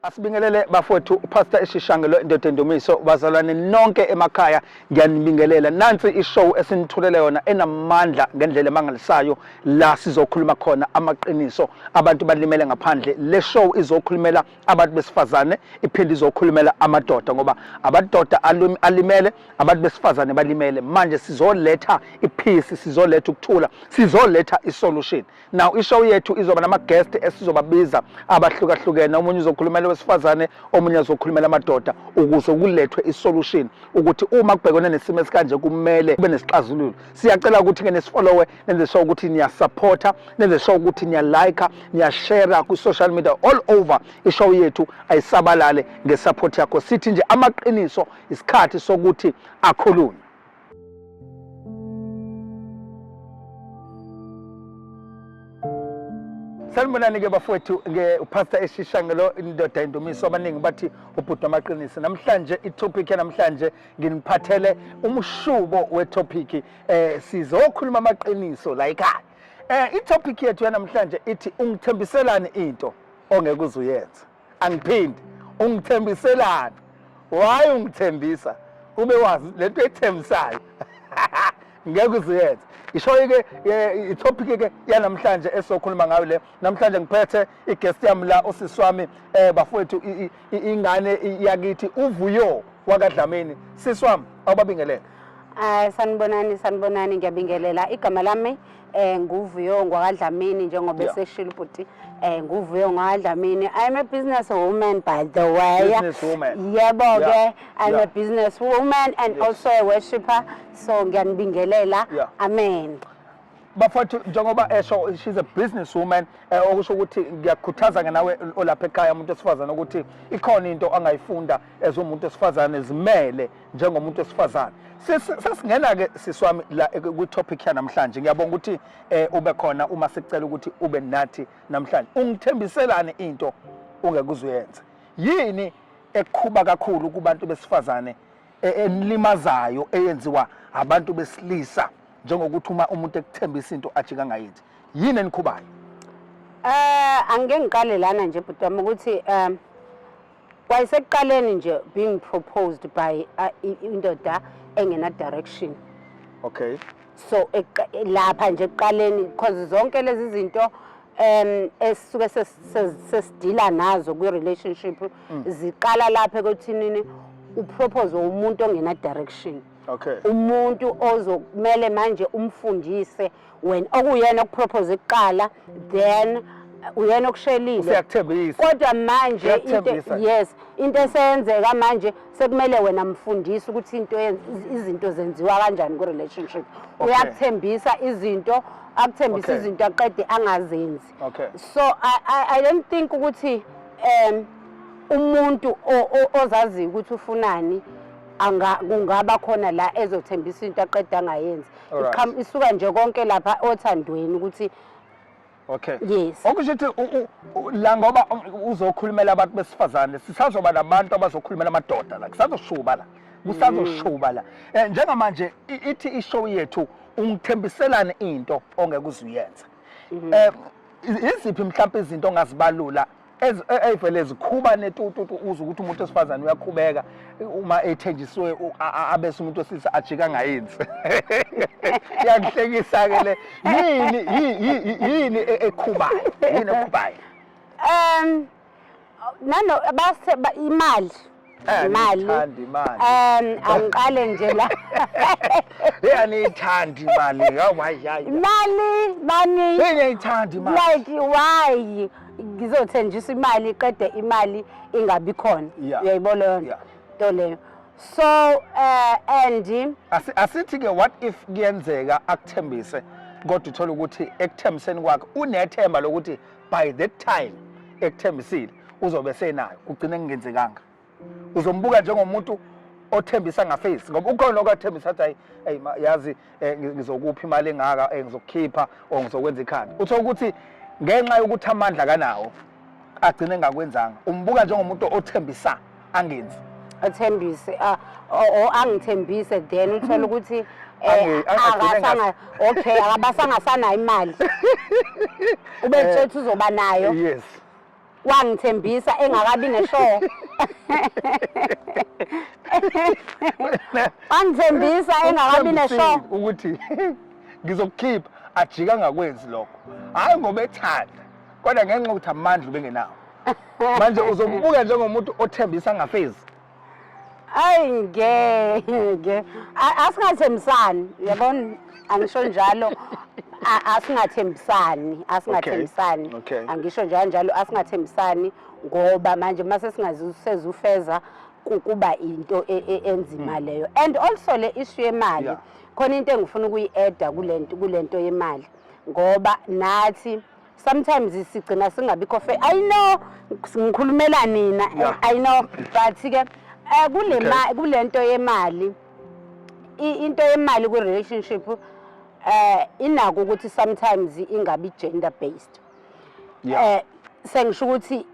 Asibingelele bafowethu uPastor Eshishangelo indoda endumiso bazalwane nonke emakhaya ngiyanibingelela nansi ishow esinithulele yona enamandla ngendlela emangalisayo la sizokhuluma khona amaqiniso abantu balimele ngaphandle le show izokhulumela abantu besifazane iphinde izokhulumela amadoda ngoba amadoda alimele abantu besifazane balimele manje sizoletha iphisi sizoletha ukuthula sizoletha isolution now ishow yethu izoba nama-guest esizobabiza abahlukahlukene omunye uzokhulumela wesifazane omunye azokhulumela amadoda ukuze kulethwe isolution ukuthi uma kubhekwane nesimo esikanje kumele kube nesixazululo siyacela ukuthi-ke nesifollowe nenze sure ukuthi niyasupporta nenze sure ukuthi niyalika niyashera kwi-social media all over ishow yethu ayisabalale ngesupport yakho sithi nje amaqiniso isikhathi sokuthi akhulunywe sanibonani-ke bafowethu upastor eshisha ngelo indoda indumiso abaningi bathi ubhuti wamaqiniso namhlanje itopic yanamhlanje nginiphathele umshubo wetopic eh sizokhuluma amaqiniso la ekhaya eh itopic yethu yanamhlanje ithi ungithembiselani into ongeke uzuyenza angiphindi ungithembiselani why ungithembisa ube wazi lento ethembisayo ngeke uziyenze ishoyi ke itopic ke yanamhlanje esokhuluma ngayo le namhlanje ngiphethe iguest yami la usisi wami eh bafowethu ingane yakithi uvuyo wakadlamini sisi wami awubabingelele Ay sanibonani sanibonani ngiyabingelela igama lami eh nguvuyo ngwakadlamini njengoba Yeah. eseshilo ubhuti eh nguvuyo ngwakadlamini i'm a business woman by the way Business woman. yebo Yeah. ke i'm a Yeah. business woman and Yes. also a worshipper so ngiyanibingelela Yeah. amen bafowethu njengoba esho she's a business woman eh, okusho ukuthi ngiyakukhuthaza-ke nawe olapha ekhaya umuntu wesifazane ukuthi ikhona into angayifunda as umuntu esifazane zimele njengomuntu esifazane sesingena ke siswami la ku topic ya namhlanje ngiyabonga ukuthi eh, ube khona uma sicela ukuthi ube nathi namhlanje ungithembiselane into ungekuzuyenze yini ekhuba kakhulu kubantu besifazane e, enilimazayo eyenziwa abantu besilisa njengokuthi uma umuntu ekuthembisa into ajika ngayithi yini enikhubayo eh angeke ngiqale lana nje bhuti wami ukuthi um Kwayisekuqaleni nje being proposed by uh, indoda engena direction. Okay. So lapha nje ekuqaleni because zonke lezi zinto um esisuke sesidila nazo kwi relationship mm. ziqala lapha ekuthinini upropose umuntu ongena direction. Okay. Umuntu ozokumele manje umfundise wena okuyena okupropose kuqala then uyena okushelile useyakuthembisa kodwa manje into Uyakuthembisa. yes into eseyenzeka manje sekumele wena mfundisi ukuthi into yen- iz- izinto zenziwa kanjani ku-relationship Okay. uyakuthembisa izinto akuthembisa Okay. izinto aqede angazenzi Okay. so I, I, i don't think ukuthi um umuntu o- o- ozaziyo ukuthi ufunani anga- kungaba khona la ezothembisa into aqede angayenzi Alright. Iqham- isuka nje konke lapha othandweni ukuthi okay Yes. okusho ukuthi u- u- u- la ngoba u- uzokhulumela abantu besifazane sisazoba nabantu abazokhulumela amadoda la kusazoshuba la kusazoshuba la Eh, njengamanje i- ithi ishow yethu ungithembiselani into ongeke uzuyenza um iziphi mhlawumpe izinto ongazibalula eyivele zikhuba netututu uze ukuthi umuntu wesifazane uyakhubeka uma ethenjisiwe abese umuntu wesilisa ajika angayenzi iyangihlekisa-ke le yini yini e, ekhubayo yini ekhubayo um nano base imali Eh, imali ngithanda imali um angiqale nje la hey aniyithandi imali yawayayi imali bani hey ngiyithanda imali like why ngizothenjiswa imali qede imali ingabi khona Yeah. uyayibona leyo nto Yeah. nto leyo so uh, and Asi- asithi ke what if kuyenzeka akuthembise kodwa uthole ukuthi ekuthembiseni kwakhe unethemba lokuthi by that time ekuthembisile uzobe senayo kugcine kungenzekanga uzombuka njengomuntu othembisa ngafesi ngoba ukhona okathembisa athi hayi yazi eh, ngizokupha imali engaka eh, ngizokukhipha or ngizokwenza ikhanda uthe ukuthi ngenxa yokuthi amandla kanawo agcine engakwenzanga umbuka njengomuntu othembisa angenzi athembise ah, o angithembise then uthole ukuthi Eh, akasanga okay akabasangasanayo imali ubetshela ukuthi uzoba nayo yes wangithembisa engakabi ne-show wangithembisa engakabi ne-show ukuthi ngizokukhipha ajika ngakwenzi lokho hhayi ngoba ethanda kodwa ngenxa yokuthi amandla ubengenawo manje uzobubuka njengomuntu othembisa ngafezi ayi ngeke asingathembisani yabona angisho njalo asingathembisani asingathembisani angisho njalo njalo asingathembisani ngoba manje uma sesingazisezufeza kuba into e, e, enzima hmm. leyo and also le issue yemali khona into engifuna ukuyi-eda kule nto yemali ngoba nathi sometimes sigcina singabikho fair i know ngikhulumela nina Yeah. i know but ke eh, kule Okay. ma- kule nto yemali i- into yemali kwi-relationship eh inako ukuthi sometimes ingabi gender based Yeah. eh sengisho ukuthi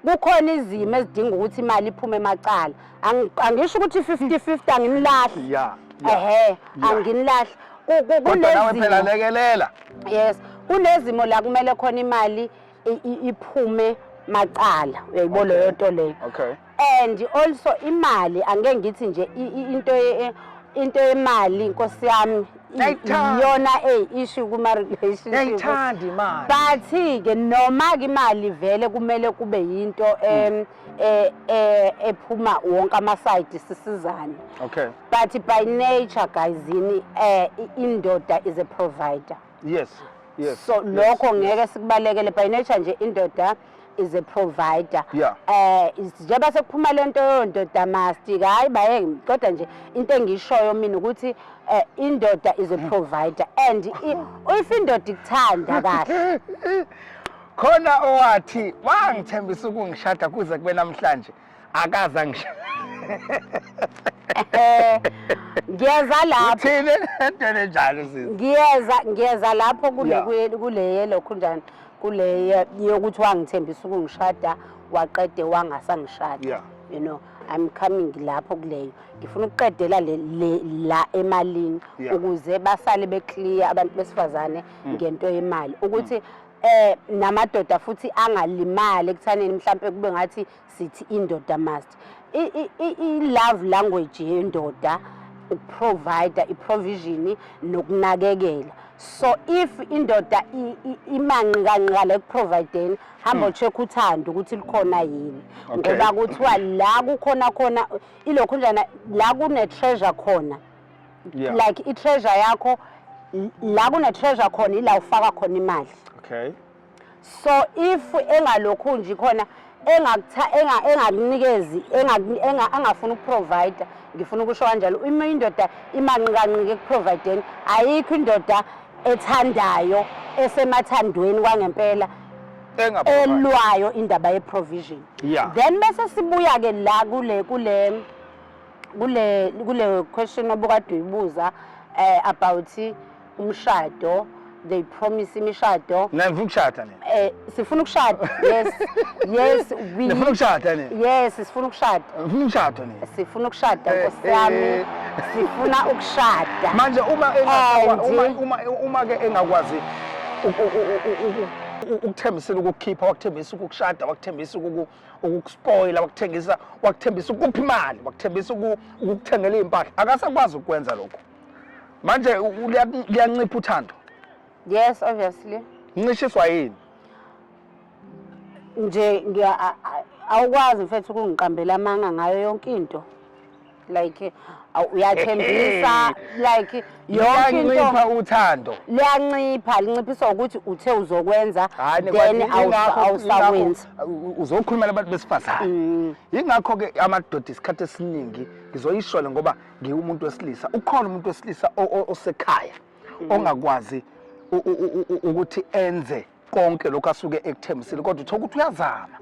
kukhona izimo ezidinga ukuthi imali iphume emacala angisho ukuthi 50-50 anginilahle ehe anginilahle kunezimolekelela yes kunezimo la kumele khona imali iphume macala uyayibo leyo nto leyo and also imali angeke ngithi nje into into yemali nkosi yami yona eyi issue kuma-relationshipayithandi imali but-ke noma-ke imali vele kumele kube yinto um ephuma wonke amasayidi sisizane okay but by nature guys yini um indoda is a provider yes yes so lokho ngeke sikubalekele by nature nje indoda is a provider yeah. eh njengoba sekuphuma lento yondoda mastic hayi baye kodwa nje into engishoyo mina ukuthi eh, indoda is a mm. provider and if indoda ikuthanda kahle khona owathi wangithembisa ukungishada kuze kube namhlanje akaze angisho Eh, ngiyeza lapho uthini lento enjalo sisi ngiyeza ngiyeza lapho kule Yeah. kule- kule yelokhu njani kule ye- yokuthi wangithembisa ukungishada waqede wangasangishada Yeah. you know i'm coming lapho kuleyo ngifuna ukuqedela le, le, la emalini Yeah. ukuze basale beclear abantu besifazane ngento yemali ukuthi eh namadoda futhi angalimali ekuthaneni mhlambe kube ngathi sithi indoda must i love language yendoda ukuprovider iprovision nokunakekela so if indoda imanqi kanqala ekuprovideni hamba hmm. check uthando ukuthi likhona yini ngoba kuthiwa la kukhona khona ilokhu njana la kune treasure khona Yeah. like i-treasure yakho l- la kune-treasure khona ila ufaka khona imali Okay. so if engalokhu nje khona engakutha- enga- engakunikezi engaku- enga- angafuni ukuprovider ngifuna ukusho kanjalo uma indoda imanqikanqika ekuprovideni ayikho indoda ethandayo esemathandweni kwangempela Enga elwayo indaba ye-provision Yeah. then bese sibuya-ke la kule kule kule kule question obukade uyibuza eh about umshado they promise imishado mina ngifuna ukushada nina eh sifuna ukushada yes yes we ngifuna ukushada nina yes sifuna ukushada ngifuna ukushada nina sifuna ukushada eh, nkosi yami eh. sifuna ukushada manje uma uma uma uma ke engakwazi ukuthembisela ukukhipha wakuthembisa ukushada wakuthembisa ukukuspoila wakuthengisa wakuthembisa ukuphi imali wakuthembisa ukukuthengela izimpahla akasakwazi ukwenza lokho manje liyancipha uthando yes obviously ncishiswa yini nje ngiya awukwazi mfethu ukungiqambela amanga ngayo yonke into like aw- uyathembisa like yonke into liyancipha uthando liyancipha linciphiswa ukuthi uthe uzokwenza Hhayi, then kwani awusa- yingakho- awusawenzi yingakho, uh, uzokhulumela abantu besifazane Mm. yingakho-ke amadoda isikhathi esiningi ngizoyishole ngoba ngiwumuntu wesilisa ukhona umuntu wesilisa o- o- osekhaya Mm. ongakwazi u- u- u- u- ukuthi enze konke lokhu asuke ekuthembisile kodwa uthola ukuthi uyazama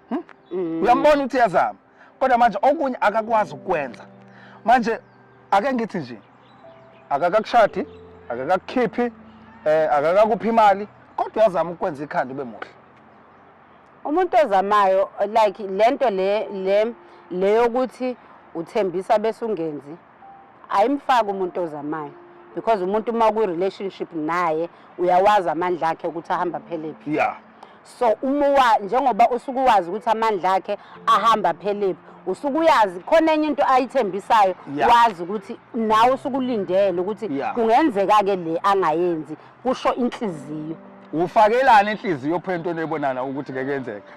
Hmm? Mm. uyambona ukuthi uyazama kodwa manje okunye akakwazi ukwenza manje ake ngithi nje akakakushadi akakakukhiphi eh akakakuphi imali kodwa uyazama ukwenza ikhanda ube muhle umuntu ozamayo like lento le le leyokuthi uthembisa bese ungenzi ayimfaki umuntu ozamayo because umuntu uma kwi-relationship naye uyawazi amandla akhe ukuthi ahamba phelephi yeah. so uma njengoba usuke uwazi ukuthi amandla akhe ahamba phelephi usuke uyazi khona enye into ayithembisayo yeah. wazi ukuthi nawe usuke ulindele ukuthi yeah. kungenzeka-ke le angayenzi kusho inhliziyo ufakelana inhliziyo phela into enebonana ukuthi ngeke yenzeka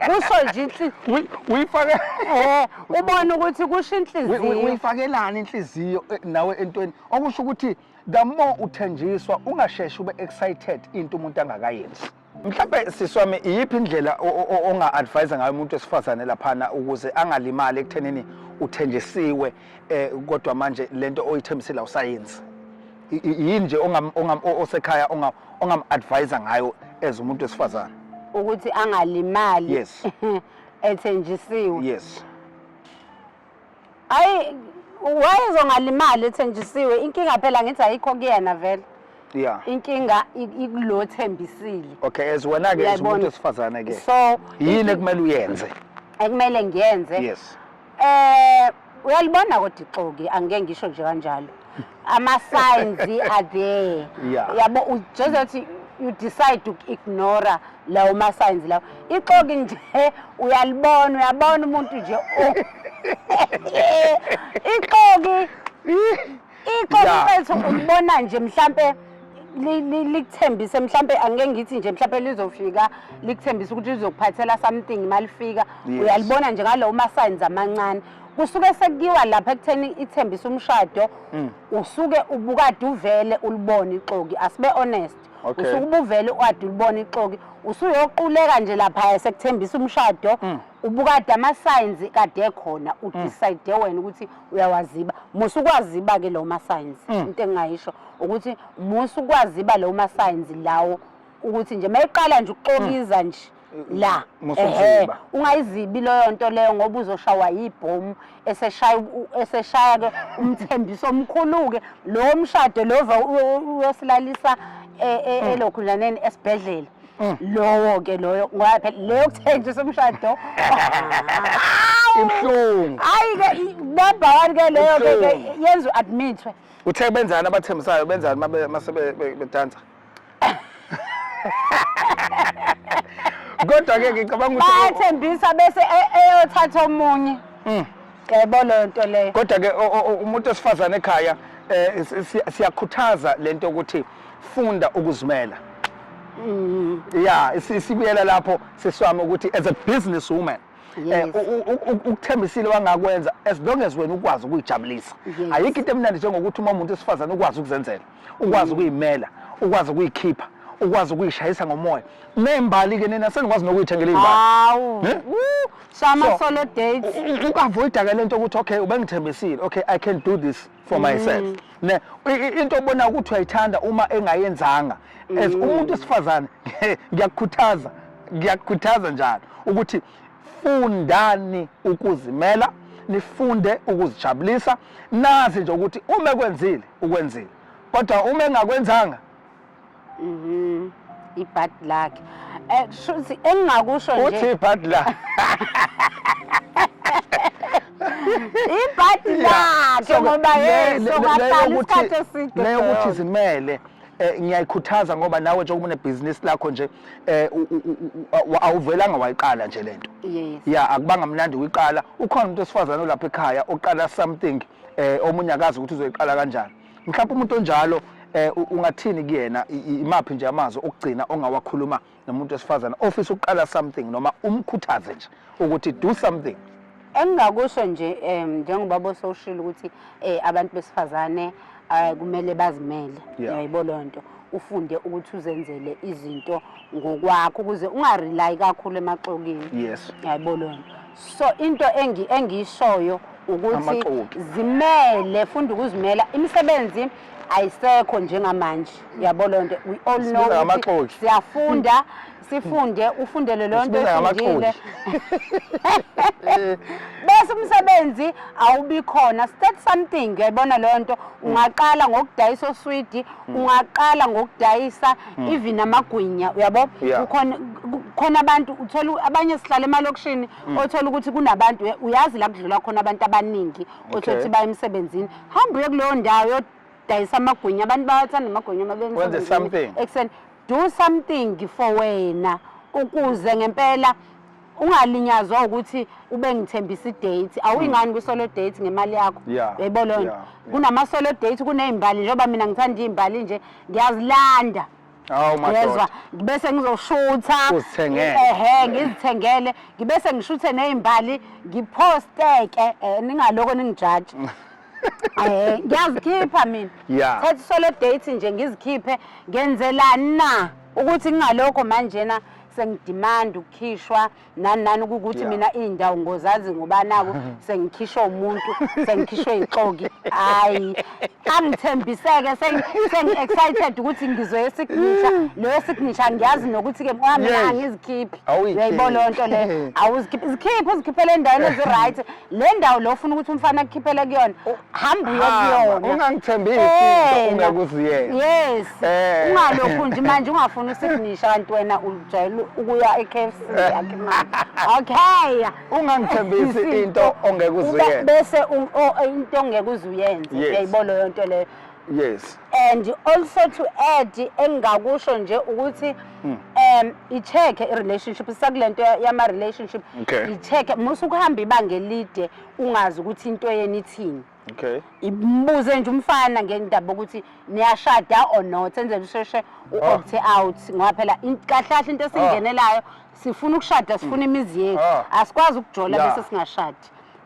kusho nje inhliziyo uyifake eh ubona ukuthi kusho inhliziyo uyifakelana inhliziyo eh, nawe entweni okusho ukuthi the more uthenjiswa ungasheshi ube excited into umuntu angakayenzi Mhlawumbe sisi wami iyiphi indlela onga-advise ngayo umuntu wesifazane laphana ukuze angalimali ekuthenini uthenjisiwe eh kodwa manje lento oyithembisile awusayenzi yini nje osekhaya ongam-advise ngayo as umuntu wesifazane ukuthi angalimali yes ethenjisiwe yes hayi wayezongalimali ethenjisiwe inkinga phela ngithi ayikho kuyena vele yeah inkinga ikulo thembisile okay as wena ke umuntu esifazane ke so yini ekumele uyenze ekumele ngiyenze yes eh uyalibona kodwa ixoki angeke ngisho nje kanjalo ama signs are there Yeah. yabo u- just that you- you decide to ignore lawo ma signs lawo ixoki nje uyalibona uyabona umuntu nje o- ixoki ixoki Yeah. mfethu ulibona nje mhlambe li- li- likuthembise mhlambe angeke ngithi nje mhlambe lizofika likuthembise ukuthi lizokuphathela something malifika Yes. uyalibona nje ngalowo ma signs amancane kusuke sekuyiwa lapha ekutheni ithembisa umshado mm. usuke ubukade uvele ulibone ixoki asibe honest okay. usuke ubuvele uade ulibone ixoki usuyoquleka nje lapha sekuthembisa umshado mm. ubukade ama-signs kade ekhona mm. udecide mm. wena ukuthi uyawaziba musa ukwaziba-ke lawo ma-signs mm. into engingayisho ukuthi musa ukwaziba lawo ma-signs lawo ukuthi nje mayiqala nje ukuxokiza mm. nje la ehe ungayizibi leyo nto leyo ngoba uzoshawa yibhomu eseshaya eseshaya ke umthembiso omkhulu-ke lowo mshado lova uyosilalisa e, e, mm. elokhunjaneni esibhedlela mm. lowo-ke loyo ngoba phela leyo kuthenjisa umshado ibuhlungu hayi-ke nabhawani-ke leyo-ke yenza u-admithwe uthe benzani abathembisayo benzani uma sebedansa kodwa ke ngicabanga ukuthi bayathembisa bese e- eyothatha omunye Mm. yebo leyo nto leyo kodwa ke o- o- o- umuntu osifazane ekhaya eh, si- si- siyakhuthaza lento ukuthi funda ukuzimela Mm. ya si- sibuyela lapho siswami ukuthi as a business woman eh, Yes. u- u- u- ukuthembisile wangakwenza as long as wena ukwazi ukuyijabulisa Yes. ayikho into emnandi njengokuthi uma umuntu esifazane ukwazi ukuzenzela ukwazi ukuyimela ukwazi ukuyikhipha ukwazi ukuyishayisa ngomoya nembali ke nina senikwazi nokuyithengela imbali hawu eh? so ama solo dates ukavoid ke lento ukuthi okay ubengithembisile okay i can do this for mm. myself ne into obona ukuthi uyayithanda uma engayenzanga as mm. umuntu esifazane ngiyakukhuthaza ngiyakukhuthaza njalo ukuthi fundani ukuzimela nifunde ukuzijabulisa nazi nje ukuthi uma ekwenzile ukwenzile kodwa uma engakwenzanga mhm ibad lakhe eh shuthi engingakusho nje uthi ibad la ibad lakhe ngoba yena sokahlala isikhathi eside leyo ukuthi zimele eh, ngiyayikhuthaza ngoba nawe njengoba unebhizinisi lakho nje eh awuvelanga wayiqala nje lento yes ya akubanga mnandi uyiqala ukhona umuntu osifazana olapha ekhaya oqala something eh omunye akazi ukuthi uzoyiqala kanjani mhlawumbe umuntu onjalo eh ungathini kuyena imaphi nje amazwi okugcina ongawakhuluma nomuntu wesifazana ofisa ukuqala something noma umkhuthaze nje ukuthi do something Engingakusho nje um njengoba bosowushilo ukuthi um abantu besifazane um kumele bazimele yayibo loo nto ufunde ukuthi uzenzele izinto ngokwakho ukuze ungarelayi kakhulu emaxokini yes yayibo loo nto so into engiyishoyo ukuthi zimele funda ukuzimela imisebenzi ayisekho njengamanje yabo loo nto we all know siyafunda sifunde ufundele leyo nto Usibiza efundile ngamaqoji. bese umsebenzi awubi khona state something uyayibona leyo nto ungaqala ngokudayisa oswidi ungaqala ngokudayisa even amagwinya uyabo Yeah. kukhona ku- khona abantu uthola u- abanye sihlala emalokishini othola ukuthi kunabantu uya- uyazi la kudlula khona abantu abaningi othola Okay. ukuthi baya emsebenzini hamba uye kuleyo ndawo yodayisa amagwinya abantu bayathanda amagwinya uma beya Wenze emsebenzini something. ekuseni Do something for wena ukuze ngempela ungalinyazwa ukuthi ube ngithembisa idate awuyingani hmm. kwisolo date ngemali yakho yebo leyo nto kunamasolo date kunezimbali njengoba mina ngithanda izimbali nje ngiyazilanda yezwa ngibese ngizoshutha ehe ngizithengele ngibese ngishuthe nezimbali ngiphosteke eh, ningaloko ningijaji Eh, ngiyazikhipha mina yeah. thatha solo date nje ngizikhiphe ngenzelani na ukuthi ngingalokho manjena sengidimanda ukukhishwa nani nani ukuthi yeah. mina iy'ndawo ngozazi ngoba naku sengikhishwa umuntu sengikhishwe ixoki hhayi angithembiseke sengi-excited ukuthi ngizoye esignisha leyo signisha ngiyazi nokuthi-ke mina angizikhiphi uyayibona loo nto leyo awuzikhiphi zikhiphele endaweni ezi-right le ndawo lo ufuna ukuthi umfana akukhiphele kuyona oh, hamba uye kuyona ungangithembisi into ungekuziyena yes eh. ungalokhu nje manje ungafuni usignisha kanti wena ujayele ukuya e-KFC okay ungangithembisi into ongekuziyena bese into ongekuzuyena uyayibona leyo nto leyo yes and also to add engingakusho nje ukuthi hmm. um i-check i-relationship sakule nto yama-relationship okay. i-check musa ukuhamba ibanga elide ungazi ukuthi into yeni ithini okay imbuze nje umfana ngendaba ukuthi niyashada or not enzele usheshe u-opte ah. out ngoba phela kahle kahle into esingenelayo sifuna ukushada sifuna imizi yethu Ah. asikwazi ukujola Yeah. bese singashadi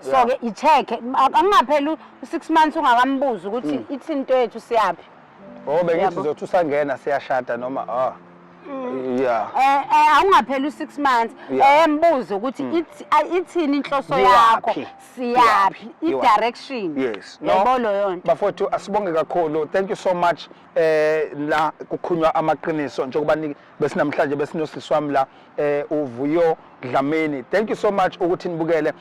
so Yeah. ke i-check angingapheli u-six months ungakambuzi ukuthi ithi into yethu siyaphi Oh bengithi Yabo. uzothi usangena siyashada noma ah. Yeah. Eh, eh, awungapheli u-six months Yeah. um buze ukuthi ithi- a- ithini inhloso Iwaphi? yakho Iwaphi? siyaphi Iwaphi? i-direction Yes. yabo loyo nto Bafowethu asibonge kakhulu. Thank you so much. Eh la kukhunywa amaqiniso njengoba ni- besinamhlanje besinosisi wami la eh uvuyo Dlamini thank you so much ukuthi nibukele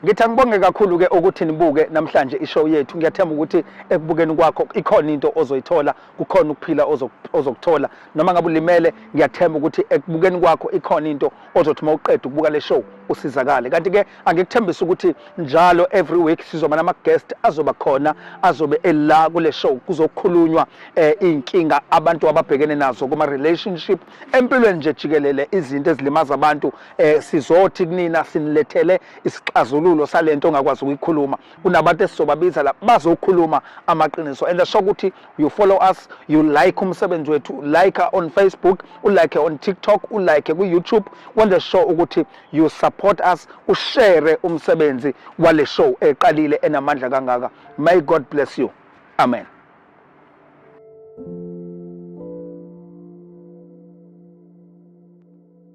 ngithi angibonge kakhulu ke ukuthi nibuke namhlanje ishow yethu ngiyathemba ukuthi ekubukeni kwakho ikhona into ozoyithola kukhona ukuphila ozokuthola noma ngabe ulimele ngiyathemba ukuthi ekubukeni kwakho ikhona into ozothi uma uqeda ukubuka le show usizakale kanti ke angikuthembisa ukuthi njalo every week sizoba nama guest azoba khona azobe ela kule show kuzokhulunywa eh, inkinga abantu ababhekene nazo kuma relationship empilweni nje jikelele izinto ezilimaza abantu eh, sizothi kunina sinilethele isixazululo salento ongakwazi ukuyikhuluma kunabantu esizobabiza la bazokhuluma amaqiniso and asho ukuthi you follow us you like umsebenzi wethu like on facebook ulike on tiktok ulike ku-youtube wenze sure ukuthi you support us ushere umsebenzi wale show eqalile enamandla kangaka may god bless you amen